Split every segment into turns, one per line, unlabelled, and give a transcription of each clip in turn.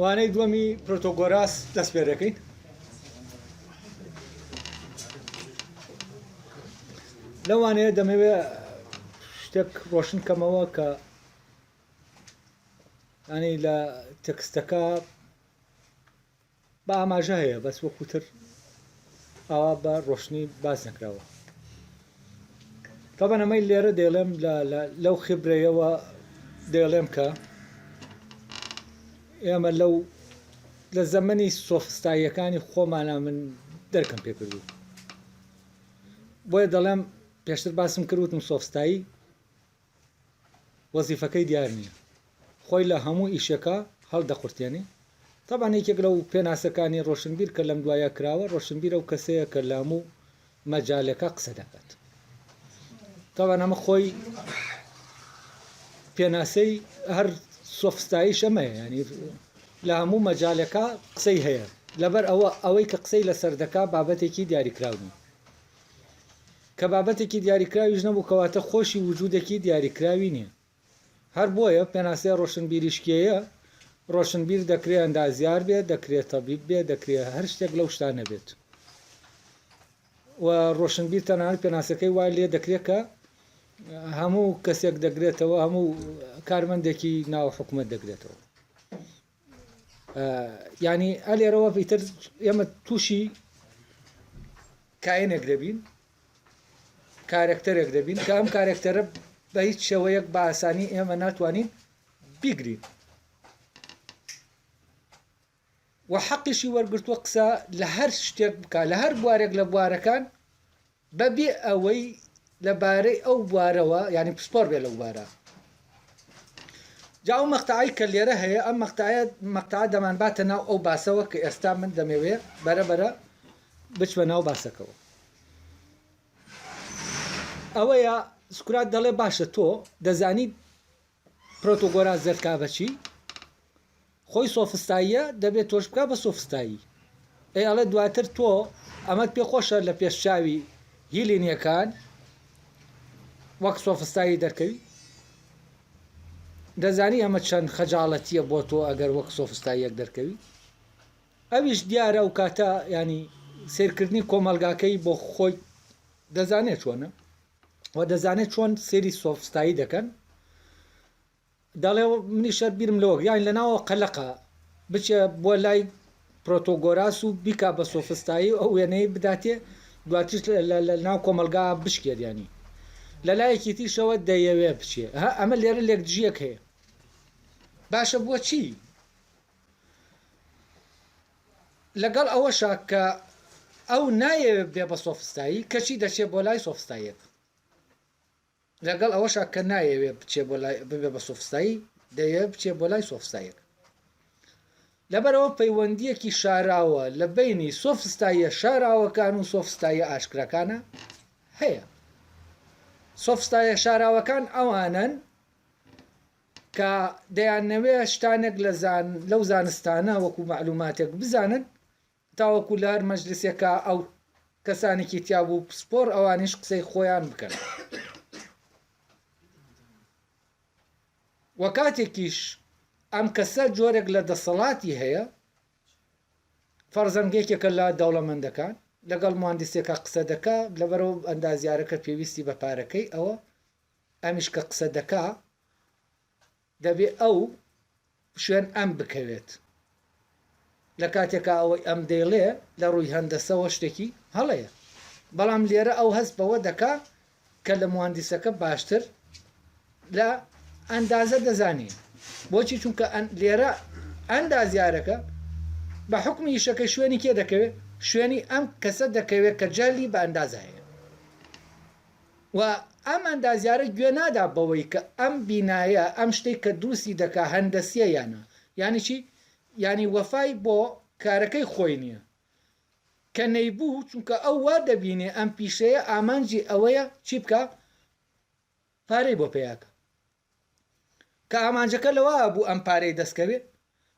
وانەی دووەمی پرۆتۆگۆراس دەست پێ دەکەین لەوانەیە دەمەوێ شتێک ڕۆشن بکەمەوە کە ینی لە تەکستەکە بە ئاماژە هەیە بەس وەکوتر ئاوا بە ڕۆشنی باز نەکراوە تەبەن ئەمەی لێرە دەڵێم لەو خبرەیەوە دەڵێم کە ئێمە لەو لە زەمەنی سۆفستاییەکانی خۆمانە من دەرکەم پێکردوو بۆیە دەڵێم پێشتر باسم کرد وتم سۆفستایی وەزیفەکەی دیار نییە خۆی لە هەموو ئیشەکە هەڵدەقورتێنێ تابان یەکێک لەو پێناسەکانی ڕۆشنبیر کە لەم دوایە کراوە ڕۆشنبیر ئەو کەسەیە کە لە هەموو مەجالەکە قسە دەکات تاوان ئەمە خۆی پێناسەی هەر سۆفستایش ئەمەیە ینی لە هەموو مەجالێکا قسەی هەیە لەبەر ئەوە ئەوەی کە قسەی لەسەر دەکا بابەتێکی دیاریکراو نیە کە بابەتێکی دیاریکراویش نەبوو کەواتە خۆشی وجودێکی دیاریکراوی نیە هەر بۆیە پێناسەی ڕۆشنبیریشکیەیە ڕۆشنبیر دەکرێ ئەندازیار بێت دەکرێت تەبیب بێت دەکرێت هەر شتێک لەو شتانە بێت و ڕۆشنبیر تەنانەت پێناسەکەی وای لێ دەکرێت کە هەموو کەسێک دەگرێتەوە هەموو کارمەندێکی ناو حکومت دەگرێتەوە ینی ئەلێرەوە پیتر ئێمە تووشی کاینێک دەبین کارەکتەرێک دەبین کە ئەم کارەکتەرە بە هیچ شێوەیەک بە ئاسانی ئێمە ناتوانین بیگرین و حەقیشی وەرگرتووە قسە لە هەر شتێک بکات لە هەر بوارێک لە بوارەکان بەبێ ئەوەی لەبارەی ئەو بوارەوە یعنی پسپۆر بێ لەو بارە جاو مەقتعی کە لێرە هەیە ئەم مەقتعە مەقتع دەمان باتە ناو ئەو باسەوە کە ئێستا من دەمەوێ بەرە بەرە بچمە ناو باسەکەەوە ئەوەیە سکرات دەڵێ باشە تۆ دەزانیت پرۆتۆگۆراس دەرکا بە چی؟ خۆی سۆفستاییە دەبێت تۆش بکا بە سۆفستایی ئەی ئەڵێ دواتر تۆ ئەمەت پێ خۆشە لە پێش چاوی هیلینیەکان وەک سۆفستایی دەرکەوی دەزانی ئەمە چەند خەجاڵەتیە بۆ تۆ ئەگەر وەک سۆفستاییەک دەرکەوی ئەویش دیارە و کاتە ینی سیرکردنی کۆمەلگاکەی بۆ خۆی دەزانێت چۆنە و دەزانێت چۆن سێری سۆفستایی دەکەن دەڵێ منیشە بیرم لەوە یان لەناوە قەلەقە بچێ بۆ لای پرۆتۆگۆراس و بیکا بە سۆفستایی ئەو وێنەی بداتێ دواتر لە ناو کۆمەلگا بشکێریانی لە لایەکی تیشەوە دەیەوێ بچێ ها ئەمە لێرە لێک دژیەک هەیە باشە بۆچی لەگەڵ ئەوەشا کە ئەو نایەوێت بێ بە سۆفستایی کەچی دەچێت بۆ لای سۆفستاییەک لەگەڵ ئەوەشا کە نایەوێت بچێ بۆ لای ببێ بە سۆفستایی دەیەوێت بچێ بۆ لای سۆفستایەک لەبەرەوە پەیوەندیەکی شاراوە لە بینی سۆفستاییە شاراوەکان و سۆفستاییە ئاشکراکانە هەیە سۆفستایە شاراوەکان ئەوانن کە دەیانەوێ شتانێک لە زان لەو زانستانە وەکو مەعلوماتێک بزانن تاوەکو لە هەر مەجلسێکا ئەو کەسانێکی تیابوو پسپۆڕ ئەوانیش قسەی خۆیان بکەن وە کاتێکیش ئەم کەسە جۆرێک لە دەسەڵاتی هەیە فەرزەن یەکێکە لە دەوڵەمەندەکان لەگەڵ مهندسێکە قسە دەکا لەبەرەوە ئەندازیارەکە پێویستی بە پارەکەی ئەوە ئەمیش کە قسە دەکا دەبێ ئەو شوێن ئەم بکەوێت لە کاتێکا ئەوەی ئەم دەیڵێ لە ڕووی هەندەسەوە شتێکی هەڵەیە بەڵام لێرە ئەو هەست بەوە دەکا کە لە موهەندیسەکە باشتر لە ئەندازە دەزانێ بۆچی چونکە لێرە ئەندازیارەکە بە حکمی ئیشەکە شوێنی کێ دەکەوێت شوێنی ئەم کەسە دەکەوێت کە جەهلی بە ئەندازە هەیە و ئەم ئەندازیارە گوێ نادا بەوەی کە ئەم بینایە ئەم شتەی کە دروستی دەکا هەندەسیە یان نا یانی چی یانی وەفای بۆ کارەکەی خۆی نیە کە نەیبوو چونکە ئەو وا دەبینێ ئەم پیشەیە ئامانجی ئەوەیە چی بکا پارەی بۆ پەیاکا کە ئامانجەکە لەوە بوو ئەم پارەی دەستکەوێت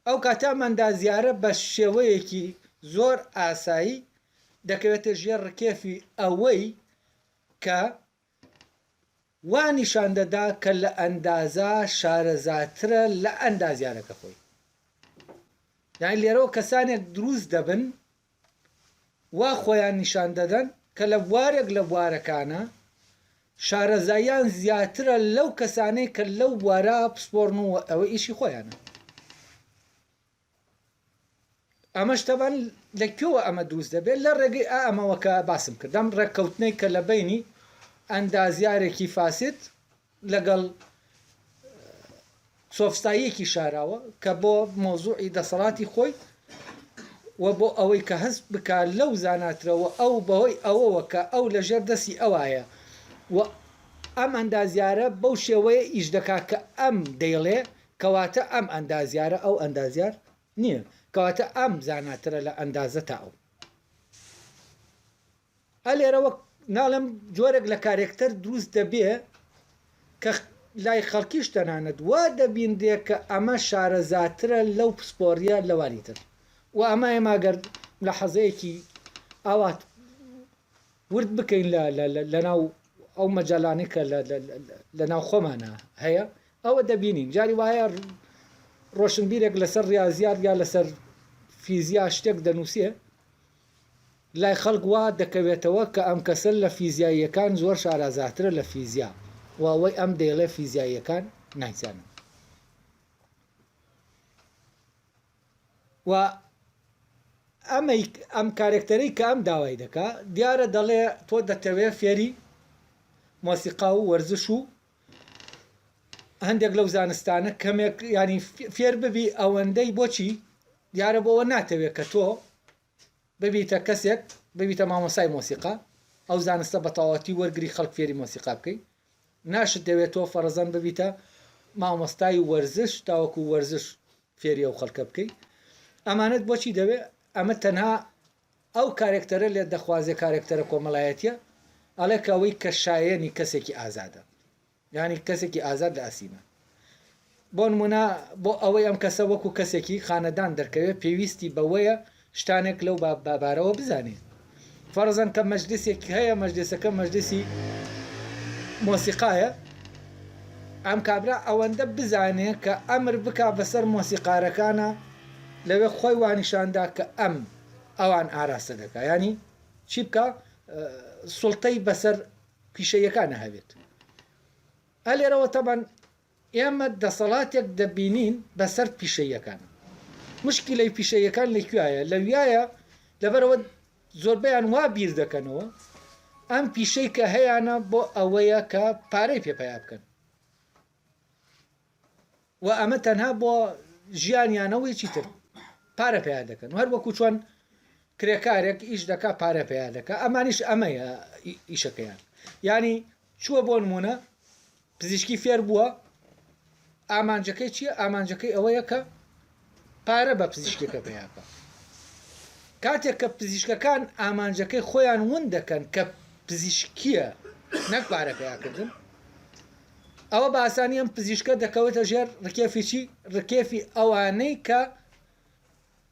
ئەو کاتە ئەم ئەندازیارە بە شێوەیەکی زۆر ئاسایی دەکەوێتە ژێر ڕکێفی ئەوەی کە وا نیشان دەدا کە لە ئەندازە شارەزاترە لە ئەندازیارەکە خۆی یان لێرەوە کەسانێک دروست دەبن وا خۆیان نیشان دەدەن کە لە بوارێک لە بوارەکانە شارەزاییان زیاترە لەو کەسانەی کە لەو بوارە پسپۆڕن و ئەوە ئیشی خۆیانە ئەمەش تەبان لە کوێوە ئەمە دروست دەبێت لە ڕێگەی ئەمەوەکە باسم کردم ڕێککەوتنەی کە لە بینی ئەندازیارێکی فاسد لەگەڵ سۆفساییەکی شاراوە کە بۆ مەوزوعی دەسەڵاتی خۆی و بۆ ئەوەی کە هەست بکا لەو زاناترەوە ئەو بەهۆی ئەوەوە کە ئەو لە ژێر دەستی ئەوایە و ئەم ئەندازیارە بەو شێوەیە ئیش دەکا کە ئەم دەیڵێ کەواتە ئەم ئەندازیارە ئەو ئەندازیار نییە کەواتە ئەم زاناترە لە ئەندازە تا ئەو ئا لێرە وەک ناڵێم جۆرێک لە کارێکتەر دروست دەبێ کە لای خەڵکیش تەنانەت وا دەبینرێ کە ئەمە شارەزاترە لەو پسپۆڕیە لەوانی تر و ئەمە ئێمە گەر ملاحەزەیەکی ئاوا ورد بکەین لە ناو ئەو مەجالانەی کە لە ناو خۆمانە هەیە ئەوە دەبینین جاری وایە ڕۆشنبیرێک لەسەر ڕاضیات یا لەسەر فیزیا شتێک دەنووسێ لای خەڵک وا دەکەوێتەوە کە ئەم کەسە لە فیزیاییەکان زۆر شارازاترە لە فیزیا و ئەوەی ئەم دەیڵێ فیزیاییەکان نایزانن و ئەمەی ئەم کارێکتەرەی کە ئەم داوای دەکا دیارە دەڵێ تۆ دەتەوێ فێری مۆسیقا و وەرزش و هەندێک لەو زانستانە کەمێک ینی فێر ببی ئەوەندەی بۆچی دیارە بۆەوە ناتەوێت کە تۆ ببیتە کەسێک ببیتە مامۆسای مۆسیقا ئەو زانستە بەتەواتی وەرگری خەڵک فێری مۆسیقا بکەیت ناشت دەوێت تۆ فەرەزەن ببیتە مامۆستای وەرزش تاوەکو وەرزش فێری ئەو خەڵکە بکەیت ئەمانەت بۆچی دەوێت ئەمە تەنها ئەو کارێکتەرە لێت دەخوازێ کارێکتەرە کۆمەلایەتیە ئەڵێ کە وی کە شایەنی کەسێکی ئازادە یانی کەسێکی ئازاد لە ئەسیمە بۆ نمونە بۆ ئەوەی ئەم کەسە وەکو کەسێکی خانەدان دەرکەوێ پێویستی بەوەیە شتانێک لەو بابارەوە بزانێت فەرزەن کە مەجلسێکی هەیە مەجلسەکە مەجلسی مۆسیقایە ئەم کابرا ئەوەندە بزانێ کە ئەمر بک بەسەر مۆسیقارەکانە لەوێ خۆی وانیشاندا کە ئەم ئەوان ئاراستە دەکا ینی چی بکە سڵتەی بەسەر پیشەیەکانە هەبێت ئە لێرەوە تەبەن ئێمە دەسەڵاتێک دەبینین بەسەر پیشەیەکان مشکی لەی پیشەیەکان لەکوایە لەویایە لەبەرەوە زۆربیان وا بیر دەکەنەوە ئەم پیشەی کە هەیەە بۆ ئەوەیە کە پارەی پێ پیا بکەن و ئەمە تەنها بۆ ژیانیانە و هیچی تر پارە پیا دەکەن هەر وەکو چۆن کرێکارێک ئیش دەکا پارە پیا دەکە ئەمانیش ئەمەیە ئیشەکەیان ینی چووە بۆ نمونە پزیشکی فێر بووە ئامانجەکەی چییە ئامانجەکەی ئەوەیە کە پارە بە پزیشکەکە پەیاکە. کاتێک کە پزیشکەکان ئامانجەکەی خۆیان ون دەکەن کە پزیشکیە نەک پارە پەیاکردن ئەوە باسانی ئەم پزیشکە دەکەوێتە ژێر ڕکێفیی ڕکێفی ئەوانەی کە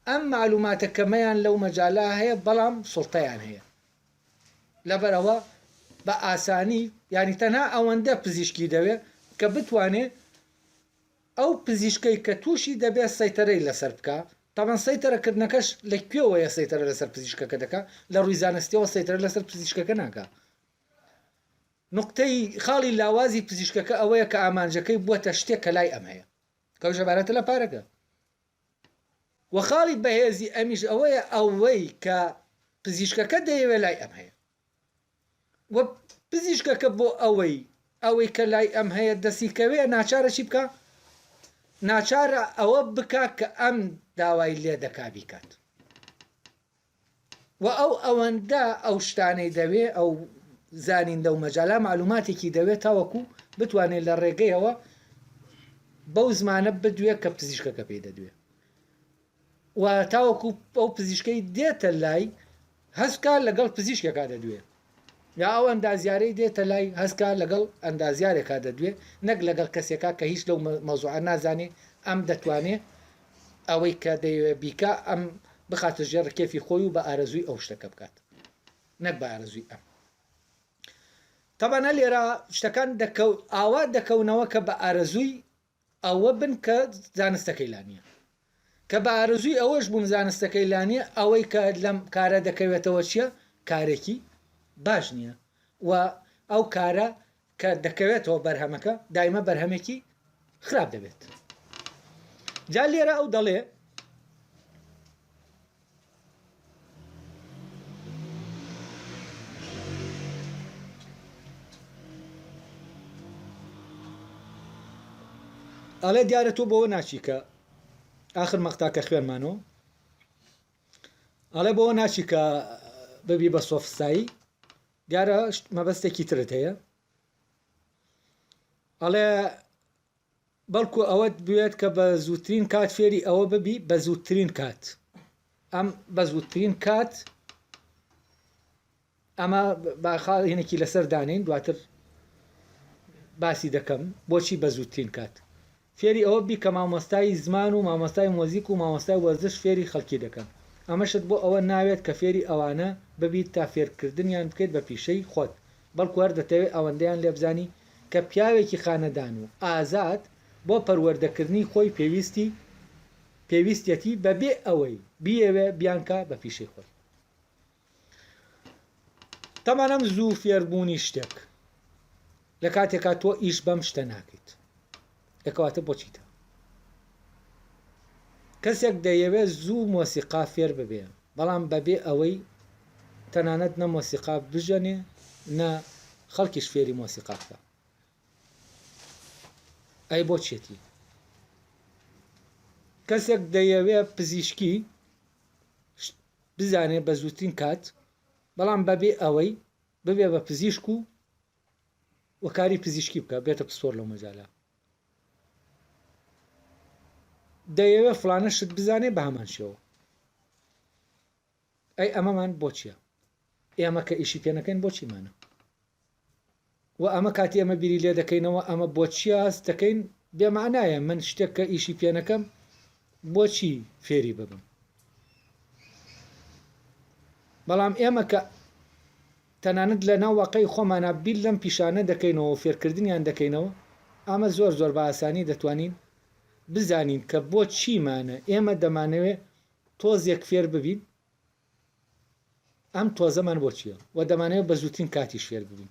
ئەم معلوماتە کەمەیان لەو مەجالا هەیە بەڵام سڵتەیان هەیە لەبەرەوە بە ئاسانی ینی تەنها ئەوەندە پزیشکی دەوێت کە بتوانێت ئەو پزیشکەی کە تووشی دەبێت سەیتەرەی لەسەر بکا، تابان سەیتەرە کردنەکەش لە کوێوەیە سەیتەرە لەسەر پزیشکەکە دەکا، لە ڕووی زانستیەوە سەیتەرە لەسەر پزیشکەکە ناکا. نوقتەی، خاڵی لاوازی پزیشکەکە ئەوەیە کە ئامانجەکەی بووەتە شتێک کە لای ئەم هەیە کە ئەویش عەبارەتە لە پارەکە. وە خاڵی بەهێزی ئەمیش ئەوەیە ئەوەی کە پزیشکەکە دەیەوێت لای ئەم هەیە. و پزیشکەکە بۆ ئەوەی ئەوەی کە لای ئەم هەیە دەستی کەوێ ناچارە چی بکا ناچارە ئەوە بکا کە ئەم داوای لێ دەکا بیکات و ئەو ئەوەندە ئەو شتانەی دەوێ ئەو زانین دە و مەجالا معلوماتێکی دەوێت تاوەکو بتوانێت لە ڕێگەیەوە بەو زمانە بدوێ کە پزیشکەکە پێی دەدوێ و تاوەکو ئەو پزیشکەی دێتە لای هەسکا لەگەڵ پزیشکێکا دەدوێ یا ئەو ئەندازیارەی دێتە لای هەسکا لەگەڵ ئەندازیارێکا دەدوێ نەک لەگەڵ کەسێکا کە هیچ لەو مەوزوعە نازانێ ئەم دەتوانێ ئەوەی کە دەیەوێ بیکا ئەم بخاتە ژێر ڕکێفی خۆی و بە ئارەزووی ئەو شتەکە بکات نەک بە ئارەزووی ئەم تەبەنە لێرە شتەکان دەکەوت ئاوا دەکەونەوە کە بە ئارەزووی ئەوە بن کە زانستەکەی لا نیە. کە بە ئارەزووی ئەوەش بووم زانستەکەی لا نیە، ئەوەی کە لەم کارە دەکەوێتەوە چیە؟ کارێکی باش نیە و ئەو کارە کە دەکەوێتەوە بەرهەمەکە دایمە بەرهەمێکی خراپ دەبێت. جا لێرە ئەو دەڵێ. ئەڵێ دیارە تۆ بەوە ناچی کە ئاخر مەقتا کە خوێنمانۆ ئەڵێ بەوە ناچی کە ببی بە سۆفستایی دیارە مەبەستێکی ترت هەیە ئەڵێ بەڵکو ئەوەت بوێت کە بە زووترین کات فێری ئەوە ببی بە زووترین کات ئەم بە زووترین کات ئەمە باخاڵینێکی لەسەر دانین دواتر باسی دەکەم بۆچی بە زووترین کات فێری ئەوە بی کە مامۆستای زمان و مامۆستای مۆزیک و مامۆستای وەرزش فێری خەڵکی دەکەن ئەمەشت بۆ ئەوە ناوێت کە فێری ئەوانە ببیت تا فێرکردنیان بکەیت بە پیشەی خۆت بەڵکو هەر دەتەوێت ئەوەندەیان لێبزانی کە پیاوێکی خانەدان و ئازاد بۆ پەروەردەکردنی خۆی پێویستی پێویستیەتی بەبێ ئەوەی بیەوێت بیانکا بە پیشەی خۆی. تەمان ئەم زوو فێربوونی شتێک لە کاتێکا تۆ ئیش بەم شتە ناکەیت. دەکەواتە بۆ چیتە؟ کەسێک دەیەوێ زوو مۆسیقا فێر ببێ بەڵام بەبێ ئەوەی تەنانەت نە مۆسیقا بژەنێ نە خەڵکیش فێری مۆسیقا بکە ئەی بۆ چێتی کەسێک دەیەوێ پزیشکی بزانێ بە زووترین کات بەڵام بەبێ ئەوەی ببێ بە پزیشک و و کاری پزیشکی بکە بێتە پسپۆر لەو مەجالە دەیەوێ فلانە شت بزانێ بە هەمان شێوە ئەی ئەمەمان بۆچیە ئێمە کە ئیشی پێنەکەین بۆچیمانە و ئەمە کاتی ئەمە بیری لێ دەکەینەوە ئەمە بۆچی هەست دەکەین بێمانایە من شتێک کە ئیشی پێنەکەم بۆچی فێری ببم بەڵام ئێمە کە تەنانەت لە ناو واقعی خۆمانا بیر لەم پیشانە دەکەینەوەو فێرکردنیان دەکەینەوە، ئەمە زۆر زۆر بە ئاسانی دەتوانین بزانین کە بۆ چیمانە، ئێمە دەمانەوێ تۆزێک فێر ببین ئەم تۆزەمان بۆ چیە و دەمانەوێ بە زووترین کاتیش فێر ببین.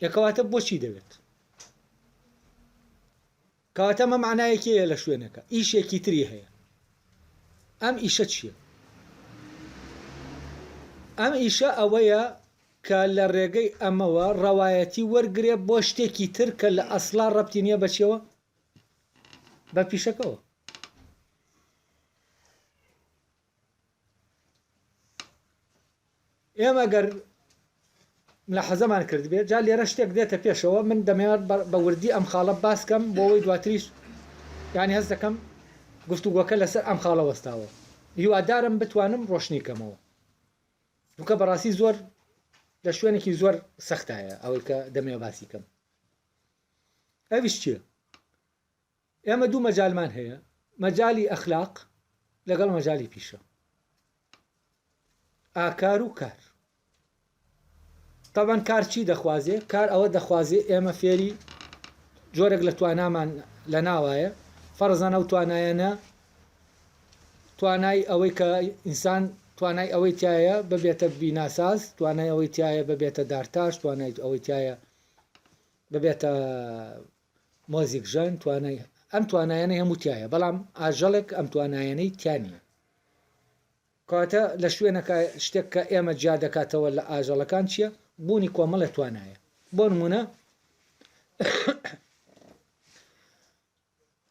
ئێ کەواتە بۆچی دەوێت؟ کەواتە مە معنایەکی هەیە لە شوێنەکە ئیشێکی تری هەیە ئەم ئیشە چییە؟ ئەم ئیشە ئەوەیە کە لە ڕێگەی ئەمەوە ڕەوایەتی وەرگێ بۆ شتێکی تر کە لە ئەسلا ڕەتی نییە بەچەوە بە پیشەکەەوە ئێمە گەر ملاحەزەمان کردبێت جا لێرە شتێک دێتە پێشەوە من دەمێت بە وردی ئەم خاڵە باسکەم بۆەوەی دواتریش یانی هەست دەکەم گفتوگۆکە لەسەر ئەم خاڵە وەستاوە هیوادارم بتوانم ڕۆشنی کەمەوە دوکە بەڕاستی زۆر لە شوێنێکی زۆر سەختایە ئەوەی کە دەمێ باسی کەم ئەویش چیە ئێمە دوو مەجالمان هەیە مەجالی ئەخلاق لەگەڵ مەجالی پیشە ئاکار و کار تەبەن کار چی دەخوازێ کار ئەوە دەخوازێ ئێمە فێری جۆرێک لە توانامان لە ناوایە فەرزانە و توانایەنە توانای ئەوەی کە ئینسان توانای ئەوەی تایە ببێتە بیناساز توانای ئەوەی تایە ببێتە دارتاش توانای ئەوەی تایە ببێتە مۆزیک ژەن توانای ئەم توانایانەی هەموو تایە بەڵام ئاژەڵێک ئەم توانایانەی تیا نییە کاتە لە شوێنەکە شتێک کە ئێمە جیا دەکاتەوە لە ئاژەڵەکان چییە بوونی کۆمەڵە توانایە بۆ نمونە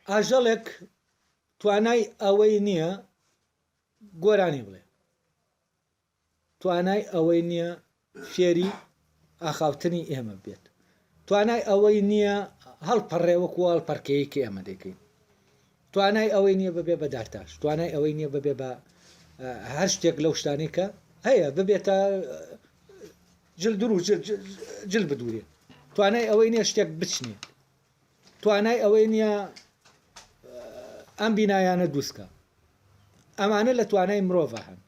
ئاژەڵێک توانای ئەوەی نییە گۆرانی بڵێ توانای ئەوەی نییە فێری ئاخاوتنی ئێمە بێت، توانای ئەوەی نییە هەڵپەڕێ وەکو ئەو هەڵپەڕکێیەی کە ئێمە دەیکەین، توانای ئەوەی نییە ببێ بە دارتاش، توانای ئەوەی نییە ببێ بە هەر شتێک لەو شتانەی کە هەیە ببێتە جل دروو جل بدورێ، توانای ئەوەی نییە شتێک بچنێ. توانای ئەوەی نیە ئەم بینایانە دوسکە ئەمانە لە توانای مرۆڤە هەن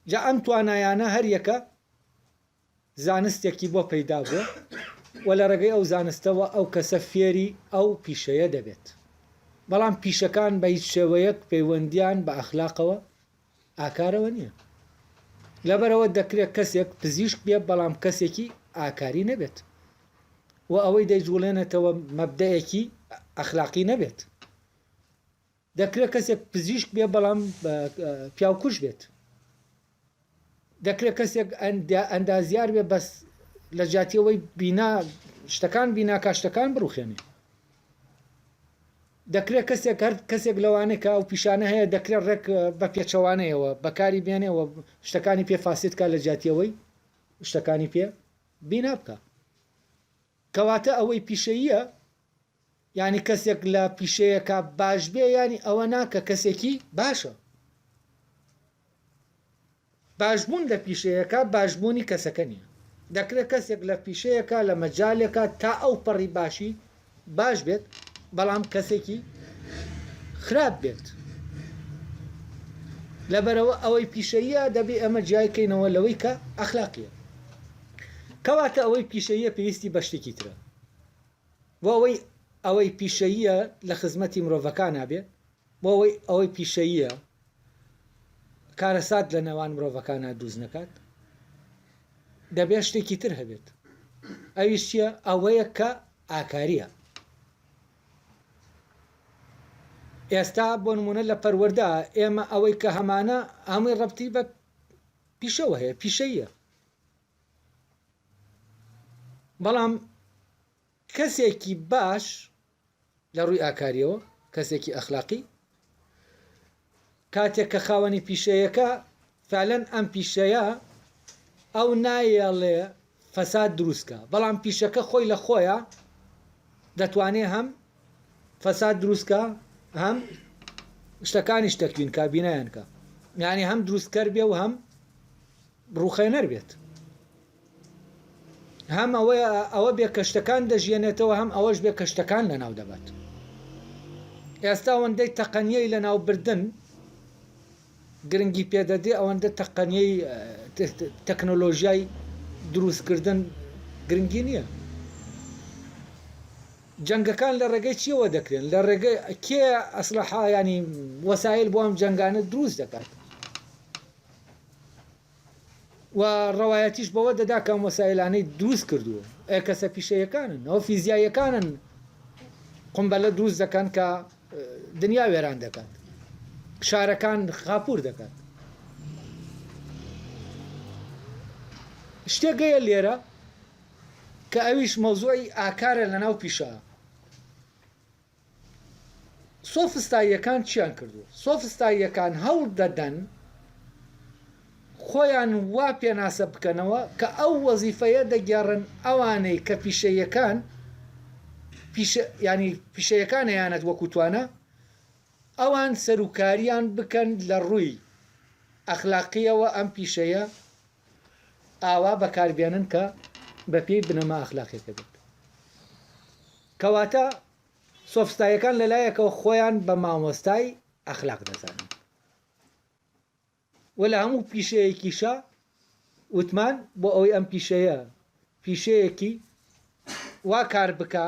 جا ئەم توانایانە هەریەکە زانستێکی بۆ پەیدا بووە و لە ڕێگەی ئەو زانستەوە ئەو کەسە فێری ئەو پیشەیە دەبێت بەڵام پیشەکان بە هیچ شێوەیەک پەیوەندیان بە ئەخلاقەوە ئاکارەوە نییە. لەبەرئەوە دەکرێت کەسێک پزیشک بێت بەڵام کەسێکی ئاکاری نەبێت و ئەوەی دەیجوڵێنێتەوە مەبدەئێکی ئەخلاقی نەبێت. دەکرێت کەسێک پزیشک بێت بەڵام پیاوکوژ بێت. دەکرێت کەسێک ئەندازیار بێت بەس لە جاتیەوەی بینا شتەکان بیناکە شتەکان بڕوخێنێ. دەکرێت کەسێک هەر کەسێک لەوانەی کە ئەو پیشانە هەیە دەکرێت ڕێک بە پێچەوانەیەوە بەکاری بێنێ و شتەکانی پێ فاسد بکات لە جیاتی ئەوەی شتەکانی پێ بینا بکات کەواتە ئەوەی پیشەییە یانی کەسێک لە پیشەیەکە باش بێ یانی ئەوە ناکە کەسێکی باشە باشبوون لە پیشەیەکا باشبوونی کەسەکە نیە، دەکرێت کەسێک لە پیشەیەکا لە مەجالێکا تا ئەو پەڕی باشی باش بێت بەڵام کەسێکی خراپ بێت لەبەرەوە ئەوەی پیشەییە دەبێ ئەمە جیای کەینەوە لەوەی کە ئەخلاقیە کەواتە ئەوەی پیشەییە پێویستی بە شتێکی ترە بۆ ئەوەی ئەوەی پیشەییە لە خزمەتی مرۆڤەکان نابێت بۆ ئەوەی ئەوەی پیشەییە کارەسات لە نێوان مرۆڤەکانا دووست نەکات دەبێت شتێکی تر هەبێت ئەویش چییە ئەوەیە کە ئاکارییە ئێستا بۆ نمونە لە پەروەەردە ئێمە ئەوەی کە هەمانە ئەمەی ڕەتی بە پیشەوە هەیە پیشەیە بەڵام کەسێکی باش لە ڕووی ئاکاریەوە، کەسێکی ئەخلاقی، کاتێک کە خاوەنی پیشەیەکە، فعلەن ئەم پیشەیە ئەو نایەڵێ فەساد دروست کا، بەڵام پیشەکە خۆی لە خۆیا دەتوانێ هەم فەساد دروست کا، هەم شتەکانیش تەکوین کا، بینایان کا، یانی هەم دروستکەر بێ و هەم ڕوخێنەر بێت هەم ئەوەیە ئەوە بێ کەشتەکان دەژیێنێتەوە هەم ئەوەش بێ کەشتەکان لەناو دەبات ئێستا وەندەی تەقەنیەی لەناو بردن گرنگی پێدەدێ ئەوەندە تەقەنیەی تەکنۆلۆژیای دروستکردن گرنگی نییە جەنگەکان لە ڕێگەی چیەوە دەکرێن لە ڕێگە کێ ئەسلحایانی وەسایل بۆ ئەم جەنگانە دروست دەکات و ڕەوایەتیش بەوە دەدا کە ئەم وەسایلانەی دروست کردووە ئەیە کەسە پیشەیەکانن ئەوە فیزیاییەکانن قمبەلە دروست دەکەن کە دنیا وێران دەکات شارەکان خاپور دەکات شتێکەیە لێرە کە ئەویش مەوزوعی ئاکارە لە ناو پیشە سۆفستاییەکان چیان کردووە؟ سۆفستاییەکان هەوڵ دەدەن خۆیان وا پێناسە بکەنەوە کە ئەو وەزیفەیە دەگێڕن ئەوانەی کە پیشەیەکان ینی پیشەیەکان هەیەیانەت وەکوتوانە ئەوان سەرکاریان بکەن لە ڕووی ئەخلاقیەوە ئەم پیشەیە ئاوا بەکاربێنن کە بەپێی بنەما ئەخلاقیەکە بێت. کەواتە سۆفستایەکان لەلایەکەوە خۆیان بە مامۆستای ئەخلاق دەزانن و لە هەموو پیشەیەکیشە وتمان بۆ ئەوەی ئەم پیشەیە پیشەیەکی وا کار بکە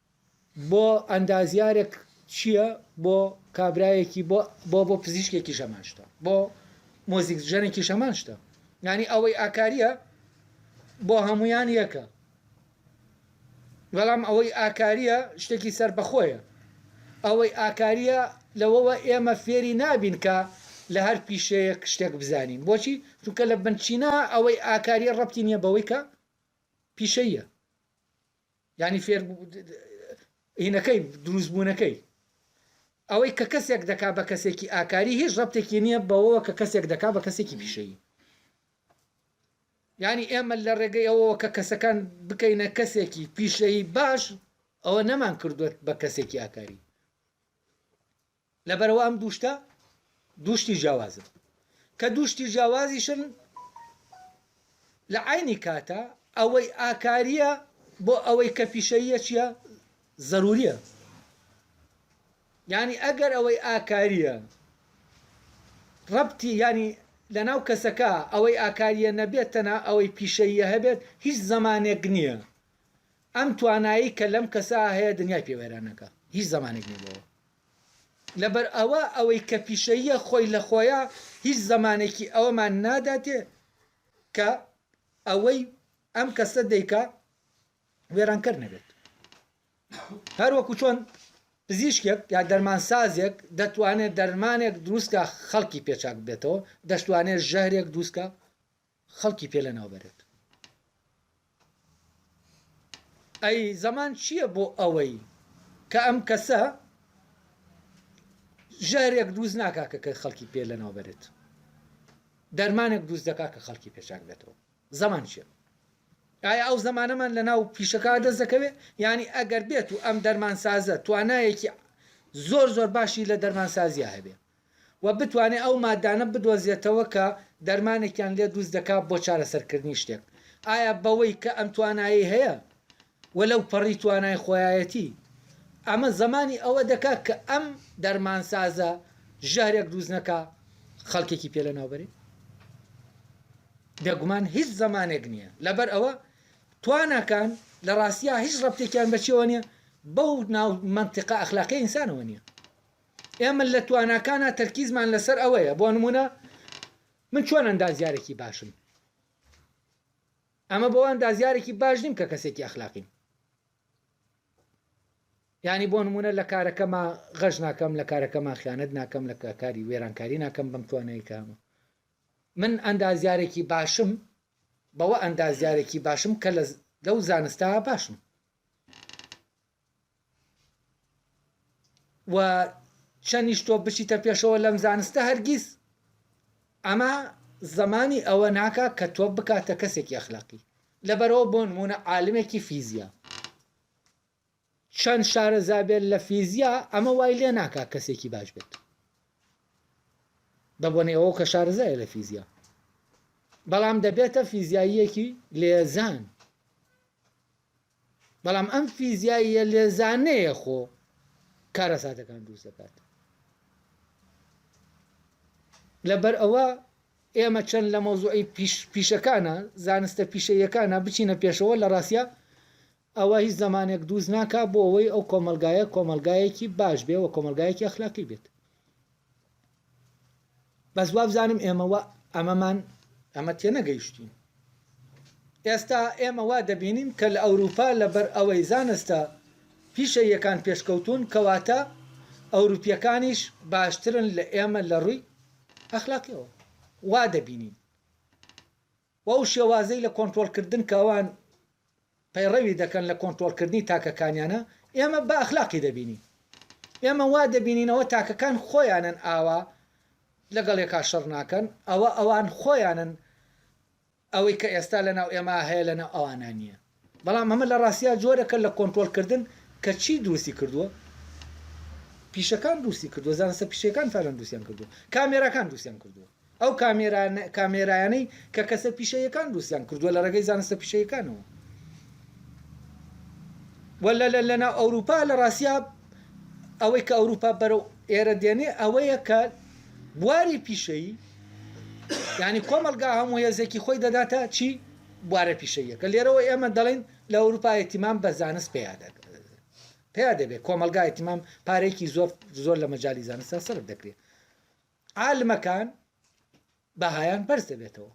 بۆ ئەندازیارێک چیە بۆ کابرایەکی بۆ بۆ بۆ پزیشکێکی شەمان شتە بۆ مۆزیک ژەنێکی شەمان شتە ینی ئەوەی ئاکاریە بۆ هەمویان یەکە بەڵام ئەوەی ئاکاریە شتێکی سەر بەخۆیە ئەوەی ئاکاریە لەوەوە ئێمە فێری نابین کە لە هەر پیشەیە شتێک بزانین بۆچی چونکە لە بنچینە ئەوەی ئاکاریە ڕەتی نیە بەوەی کە پیشەیە یانی فێر هینەکەی دروست بوونەکەی ئەوەی کە کەسێک دەکا بە کەسێکی ئاکاری هیچ ڕەبتێکی نییە بەوەوە کە کەسێک دەکا بە کەسێکی پیشەیی ینی ئێمە لە ڕێگەی ئەوەوە کە کەسەکان بکەینە کەسێکی پیشەیی باش ئەوە نەمان کردوێت بە کەسێکی ئاکاری لەبەرئەوە ئەم دوو شتە دوو شتی جیاوازن، کە دوو شتی جیاوازیشن لە عەینی کاتا ئەوەی ئاکارییە بۆ ئەوەی کە پیشەییە چییە؟ زەروورییە. یانی ئەگەر ئەوەی ئاکارییە ڕەبتی یانی لەناو کەسەکە ئەوەی ئاکارییە نەبێت تەنها ئەوەی پیشەییە هەبێت هیچ زەمانێک نییە ئەم توانایەی کە لەم کەسە هەیە دنیای پێ وێران نەکا هیچ زەمانێک نییە بۆ ئەوە. لەبەرئەوە ئەوەی کە پیشەییە خۆی لە خۆیا هیچ زەمانێکی ئەوەمان ناداتێ کە ئەوەی ئەم کەسە دەیکا وێرانکەر نەبێت هەروەکو چۆن پزیشکێک یا دەرمانسازێک دەتوانێت دەرمانێک دروستکە خەڵکی پێچاک بێتەوە دەشتوانێت ژەهرێک دروستکە خەڵکی پێ لەناو بەرێت. ئەی زەمان چییە بۆ ئەوەی کە ئەم کەسە ژەهرێک دروست ناکا کە کە خەڵکی پێ لەناو بەرێت دەرمانێک دروست دەکا کە خەڵکی پێچاک بێتەوە زەمان چیە ئایا ئەو زمانەمان لە ناو پیشەکە دەست دەکەوێت ینی ئەگەر بێت و ئەم دەرمانسازە توانایەکی زۆر زۆر باشی لە دەرمانسازیە هەبێ و بتوانێت ئەو ماددانە بدۆزێتەوە کە دەرمانێکیان لێ دروست دەکات بۆ چارەسەرکردنی شتێک، ئایا بەوەی کە ئەم توانایەی هەیە و لەو پەڕی توانای خۆیایەتی، ئەمە زەمانی ئەوە دەکات کە ئەم دەرمانسازە ژەهرێک دروست نەکا خەڵکێکی پێ لەناو بەرێت؟ بێگومان هیچ زەمانێک نییە، لەبەر ئەوە تواناکان لە ڕاستیا هیچ ڕەبتێکیان بە چیەوە نییە؟ بەو ناو مەنتیقە ئەخلاقی ئینسانەوە نییە. ئێمە لە تواناکانا تەرکیزمان لەسەر ئەوەیە بۆ نموونە من چۆن ئەندازیارێکی باشم ئەمە بۆ ئەندازیارێکی باش نیم کە کەسێکی ئەخلاقیم ینی بۆ نمونە لە کارەکەما غەش ناکەم لە کارەکەما خیانەت ناکەم لە کاری وێرانکاری ناکەم بەم توانایی کامە من ئەندازیارێکی باشم بەوە ئەندازیارێکی باشم کە لەو زانستا باشم و چەنیش تۆ بچیتە پێشەوە لەم زانستە هەرگیز ئەمە زمانی ئەوە ناکا کە تۆ بکاتە کەسێکی ئەخلاقی لەبەرەوە بۆ نمونە عالمێکی فیزیا چەند شارەزابێت لە فیزیا ئەمە وای لێ ناکا کەسێکی باش بێت بە بۆنەی ئەوە کە شارزای لە فیزیا بەڵام دەبێتە فیزیاییەکی لێزان بەڵام ئەم فیزیاییە لێزانەیە خۆ کارەساتەکان دروست دەکات لەبەر ئەوە ئێمە چەند لە مۆزوعی پیشەکانە زانستە پیشەیەکانە بچینە پێشەوە لە ڕاستە ئەوە هیچ زمانێک دووز ناکە بۆ ئەوەی ئەو کۆمەلگایە کۆمەلگایەکی باش بێ و کۆمەلگایەکی ئەخلاقی بێت بەس وابزانم ئێمە وا ئەمەمان ئەمە تێنەگەیشتوین ئێستا ئێمە وا دەبینین کە لە ئەوروپا لەبەر ئەوەی زانستە پیشەییەکان پێشکەوتون کەواتە ئەوروپیەکانیش باشترن لە ئێمە لە ڕووی ئەخلاقیەوە وا دەبینین و ئەو شێوازەی لە کۆنترۆڵکردن کە ئەوان پەیڕەوی دەکەن لە کۆنترۆڵکردنی تاکەکانیانە، ئێمە بە ئەخلاقی دەبینین. ئێمە وا دەبینین ئەوە تاکەکان خۆیانن ئاوا لەگەڵ یەکا شەڕ ناکەن، ئەوە ئەوان خۆیانن ئەوەی کە ئێستا لەناو ئێمە هەیە لەناو ئەوانا نییە. بەڵام ئەمە لە ڕاستیا جۆرێکە لە کۆنترۆڵ کردن کە چی دروستی کردووە؟ پیشەکان دروستی کردووە، زانستە پیشەیەکان فعلەن دروستیان کردووە، کامێراکان دروستیان کردووە، ئەو کامێرایانەی کە کەسە پیشەیەکان دروستیان کردووە لە ڕێگەی زانستە پیشەیەکانەوە. وە لە لە لەناو ئەوروپا لە ڕاستیا ئەوەی کە ئەوروپا بەرەو ئێرە دێنێ ئەوەیە کە بواری پیشەیی یعنی کۆمەڵگا هەموو هێزێکی خۆی دەداتە چی؟ بوارە پیشەییەکە، لێرەوە ئێمە دەڵێین لە ئەوروپا ئیتیمام بە زانست پەیا پەیا دەبێت، کۆمەڵگا ئیتیمام پارەیەکی زۆر زۆر لە مەجای زانستە سەرف دەکرێت، عالمەکان بەهایان بەرز دەبێتەوە.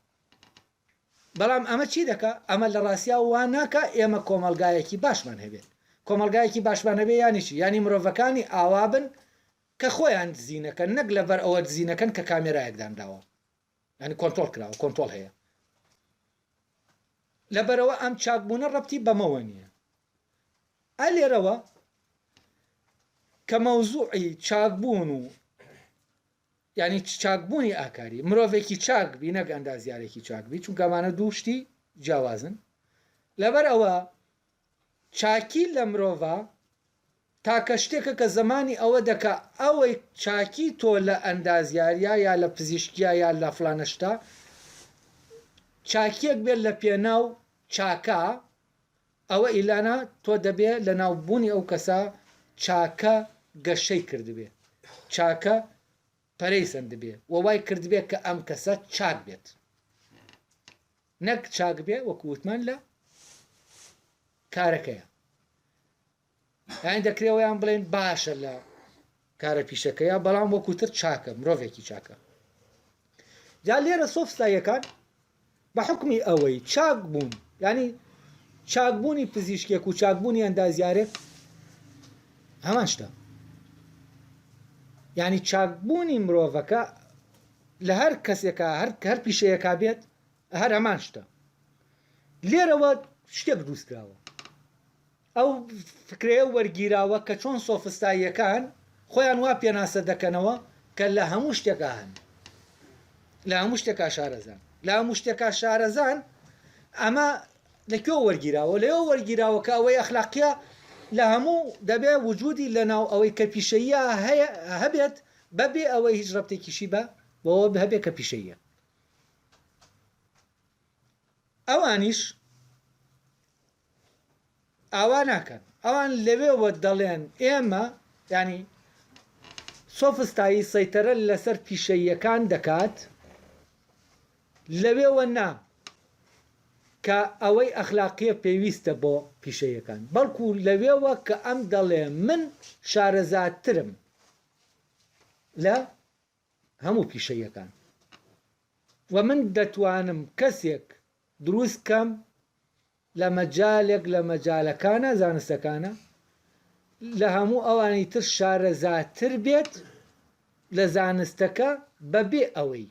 بەڵام ئەمە چی دەکا ئەمە لە ڕاستیا وا ناکە ئێمە کۆمەلگایەکی باشمان هەبێت کۆمەلگایەکی باشمان هەبێ ینیشی ینی مرۆڤەکانی ئاوابن کە خۆیان دزینەکەن نەک لەبەر ئەوە دزینەکەن کە کامێرایەکدانداوە یانی کۆنترۆڵ کراوە کۆنترۆڵ هەیە لەبەرەوە ئەم چاکبوونە ڕەبتی بەمەوە نییە ئە لێرەوە کە مەوزوعی چاکبوون و ینی چاکبوونی ئاکاری مرۆڤێکی چاک بی نەک ئەندازیارێکی چاک بی چونکەمانە دووشتی جیاوازن لەبەر ئەوە چاکی لە مرۆڤا تاکە شتێکە کە زەمانی ئەوە دەکا ئەوەی چاکی تۆ لە ئەندازیاریا یا لە پزیشکیا یا لە فلانە شتا چاکیەک بێت لە پێناو چاکە ئەوە ئیلانا تۆ دەبێ لە ناوبوونی ئەو کەسە چاکە گەشەی کردبێ چاکە پەرەی سەندبێ و وای کردبێ کە ئەم کەسە چاک بێت نەک چاک بێ وەکو وتمان لە کارەکەیە یان دەکرێەوەیان بڵێن باشە لە کارە پیشەکەیە بەڵام وەکوتر چاکە مرۆڤێکی چاکە جا لێرە سۆفساییەکان بە حوکمی ئەوەی چاک بوون یانی چاک بوونی پزیشکێک و چاک بوونی ئەندازیارێک هەمان شتە یانی چاک بوونی مرۆڤەکە لە هەر کەسێکە هەر هەر پیشەیەکا بێت هەر هەمان شتە لێرەوە شتێک دروستکراوە ئەو فکرەیە وەرگیراوە کە چۆن سۆفستاییەکان خۆیان وا پێناسە دەکەنەوە کە لە هەموو شتێکا هەن، لە هەموو شتێکا شارەزان، لە هەموو شتێکا شارەزان، ئەمە لە کوێوە وەرگیراوە؟ لەوێوە وەرگیراوە کە ئەوەی ئەخلاقییە لە هەموو دەبێ وجودی لەناو ئەوەی کە پیشەییە هەیە هەبێت بەبێ ئەوەی هیچ ڕەبتێکیشی بە بەوە هەبێت کە پیشەییە. ئەوانیش ئاوا ناکەن ئەوان لەوێوە دەڵێن ئێمە ینی سۆفستایی سەیتەرە لەسەر پیشەییەکان دەکات لەوێوە نا کە ئەوەی ئەخلاقیە پێویستە بۆ پیشەیەکان بەڵکو لەوێوە کە ئەم دەڵێ من شارەزاترم لە هەموو پیشەیەکان وە من دەتوانم کەسێک دروست کەم لە مەجالێک لە مەجالەکانە زانستەکانە لە هەموو ئەوانی تر شارەزاتر بێت لە زانستەکە بەبێ ئەوەی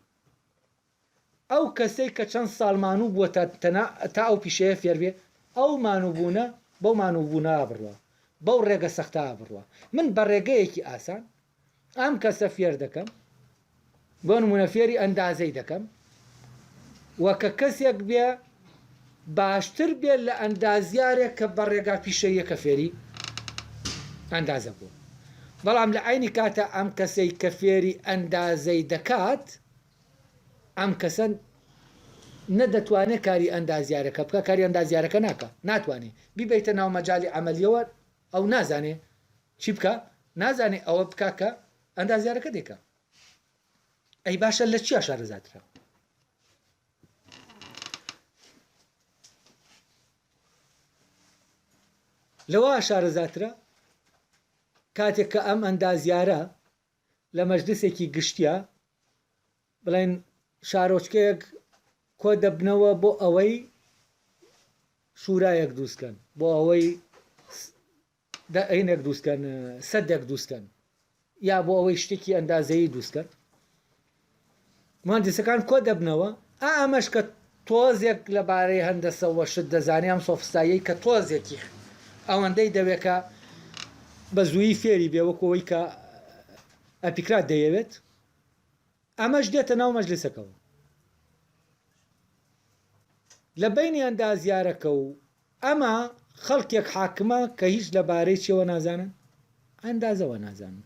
ئەو کەسەی کە چەند ساڵ مانوو بووە تا تەنا تا ئەو پیشەیە فێر بێ، ئەو مانوو بوونە بەو مانوو بوونە بڕوا، بەو ڕێگە سەختە بڕوا. من بە ڕێگەیەکی ئاسان ئەم کەسە فێر دەکەم، بۆ نموونە فێری ئەندازەی دەکەم و کە کەسێک بێ باشتر بێ لە ئەندازیارێک کە بە ڕێگا پیشەییەکە فێری ئەندازە بووە. بەڵام لە عەینی کاتا ئەم کەسەی کە فێری ئەندازەی دەکات، ئەم کەسە نە دەتوانێ کاری ئەندازیارەکە بکا کاری ئەندازیارەکە ناکا ناتوانێ بیبەیتە ناو مەجالی عەمەلیەوە ئەو نازانێ چی بکا نازانێ ئەوە بکا کە ئەندازیارەکە دەیکا ئەی باشە لە چیا شارەزاترە لەوە شارەزاترە کاتێک کە ئەم ئەندازیارە لە مەجلیسێکی گشتیا بڵێن شارۆچکەیەک کۆ دەبنەوە بۆ ئەوەی شورایەک دروستکەن بۆ ئەوەی دەعینێک دروستکەن سەدێک دروستکەن یا بۆ ئەوەی شتێکی ئەندازەیی دروستکەن موهەندیسەکان کۆ دەبنەوە ئا ئەمەش کە تۆزێک لە بارەی هەندەسە وە شت دەزانێ ئەم سۆفستاییەی کە تۆزێکی ئەوەندەی دەوێ کە بە زوویی فێری بێ وەکوو ئەوەی کە ئەپیکرات دەیەوێت ئەمەش دێتە ناو مەجلیسەکەوە لە بەینی ئەندازیارەکە و ئەمە خەڵکێک حاکمە کە هیچ لە بارەی چیەوە نازانن ئەندازەوە نازانن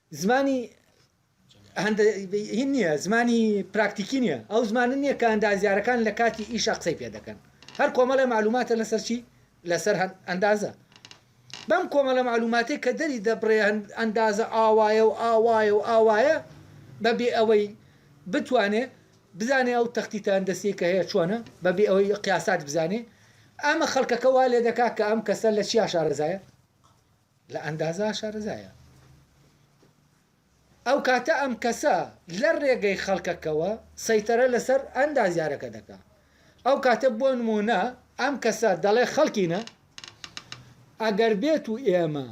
زمانی هەندە ی نییە، زمانی پراکتیکی نییە، ئەو زمانە نییە کە ئەندازیارەکان لە کاتی ئیشا قسەی پێ دەکەن. هەر کۆمەڵێ مەعلووماتە لەسەر چی؟ لەسەر ئەندازە. بەم کۆمەڵە مەعلووماتەی کە دەری دەبڕێ ئەندازە ئاوایە و ئاوایە و ئاوایە، بە بێ ئەوەی بتوانێ بزانێ ئەو تەختیتە هەندەسییەی کە هەیە چۆنە، بە بێ ئەوەی قیاسات بزانێ، ئەمە خەڵکەکە وا لێ دەکا کە ئەم کەسە لە چیا شارەزایە؟ لە ئەندازە شارەزایە. ئەو کاتە ئەم کەسە لە رێگەی خەڵکەکەوە سەیتەرە لە سەر ئەندازیارەکە دەکا. ئەو کاتە بۆ نموونە ئەم کەسە دەڵێ خەڵکینە ئەگەر بێتو ئێمە